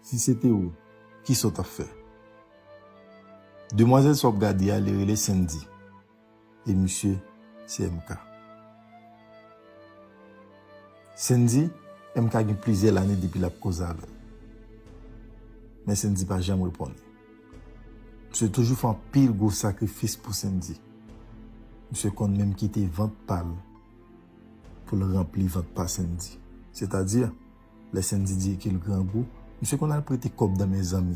Si se te ou, ki sa w t ap fè? Demwazèl sa w ap gade a, li rele Sendy. E misye se MK. Sendy, MK gen plizyè lane depi l ap koze avè l. Men Sendy pa janm reponn li. Misye toujou fè anpil gwo sakrifis pou Sendy. Misye konn menm kite vant pa l pou l ranpli vant pa Sendy. Sètadi, Lè Sendy di ke l grangou, misye konn al prete kòb nan men zanmi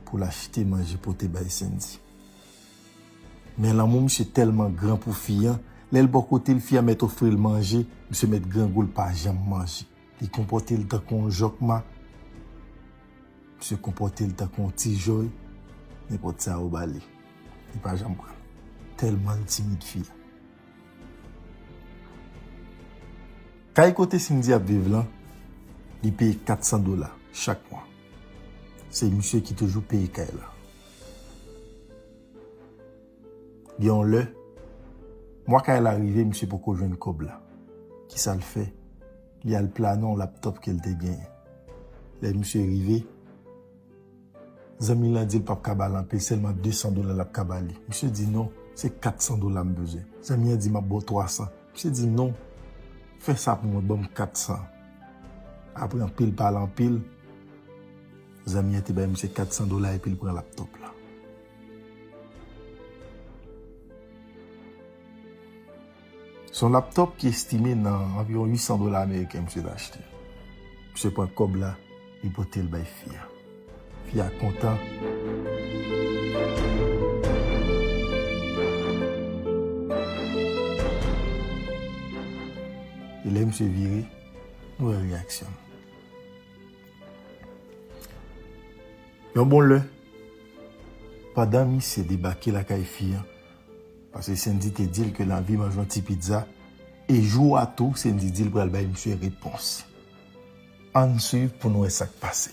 pou l achte manje pote bay Sendy. Men lanmou misye tèlman gran pou fi an, lè l bò kote l fi a mèt ofri l manje, misye mèt grangou l pa janm manje. Li konpòte l tankou yon jòkma, misye konpòte l tankou yon ti jòy, nenpòt sa ou ba li, li pa janm pran. Tèlman l timid fi a. Kay kote Sindy ap viv lan, li peye 400 dola chak mwa. Se misye ki toujou peye kay la. Gen yon lè, mwa kay la rive misye poko jwenn kòb la. Ki sa l fè? Li al plane yon laptop ke l te genyen. Lè misye rive. Zanmi lan di l pap ka ba l anpe, sèlman 200 dola l ap ka ba li. Misye di, non, se 400 dola m bezwen. Zanmi an di, m ap ba w 300. Misye di, non, fè sa pou mwen, ban m 400. Apre anpil pale anpil, zanmi an te bay misye 400 dola epi l pran laptòp la. Se yon laptop ki estime nan anviwon 800 dola ameriken misye te achte. Misye pran kòb la, li pote l bay fi a. Fi a kontan. E lè misye vire, nou wè reyaksyon l. Yon bon lè, pandan misye debake lakay fi a, Paske Sendy te dil ke lavi manje yon ti pizza e jou a tou Sendy dil pral bay misye repons. Ann swiv pou n wè sa k pase.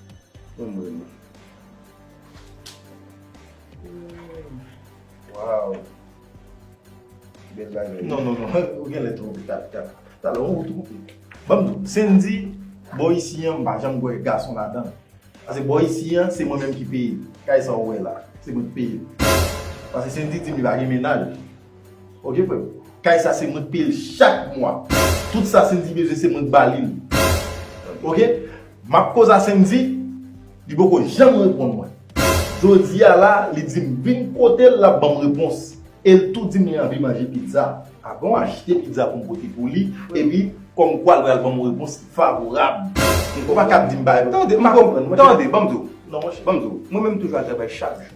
Mwen mwen mwen. Waw. Non, non, non. Ou gen lè tou. Tap, tap. Tap lè ou tou. Banm tou. Sen di, bo isi an mba janm gwe gason la dan. Ase bo isi an, se mwen menm ki peye. Kay sa ou we la. Se mwen ki peye. Ase sen di di mi bagen menaj. Ok frè m. Kay sa se mwen k peye l chak mwa. Tout sa Sendy bezwen se mwen k ba li l. Ok. M ap koze a Sendy, li poko janm reponn mwen. Jodi a la li di m vin kote l l ap ban m repons. E l tou di m li anvi manje pizza. A bon achte pizza pou m pote pou li epi kòmkwa l pral ban m yon repons ki favorab. Ou pa ka ap di m bagay pou m. Tande, m pa konprann. Tande, ban m di w. Ban m di w. Mwen menm m toujou al travay chak jou.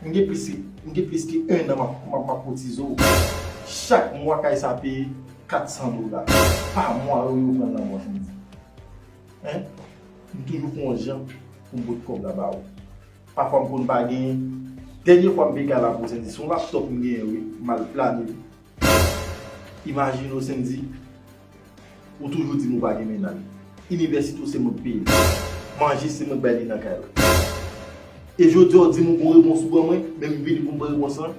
M gen plis ke 1 an m ap kotize w. Chak mwa kay sa peye 400 dola. Pa mwa yo yo pran nan mwen fè m di. Hein? M toujou fè yon jan pou m pot kòb la ba ou. Pafwa m konn pa genyen. Dènye fwa m peye kay la pou w se te sou laptop m genyen wi. M al plane li. Imajine w Sendy, ou toujou di m ou pa gen mennaj. Inivèsite w se mwen k peye l. Manje se mwen k bay li nan kay la. E jodi a w di m ou gon repons ou ban mwen, men m vini pou m pran repons lan,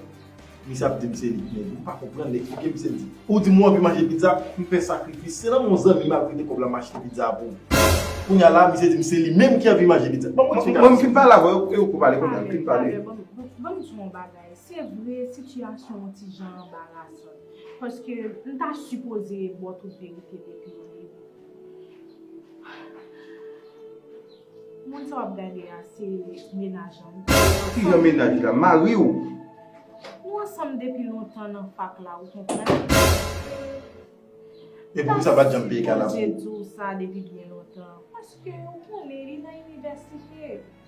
misye ap di m se li ki mèg. M pa konprann, eksplike m Sendy. Ou di m ou anvi manje pizza, m fè sakrifis. Se nan men yon zanmi m al prete kòb la m achte pizza a pou ou. Kounye a la, misye di m se li menm ki anvi manje pizza. Ban m yon ti ka. Mwen m fin pale avè w, e ou k pale kounye a. M fin pale. Ban m di w yon bagay. Se vre, sitiyasyon on ti jan anbarasan. Paske m ta sipoze e bò tout verite depi o debi. Moun sa w ap gade a se menaj an. Ki jan menaj la? Mari w? Nou ansanm depi lontan nan fak la, ou konprann. E pou ki sa w pa t janm peye kalabou? M ta sipoze di w sa depi byen lontan. Paske ou konnen li nan inivèsite.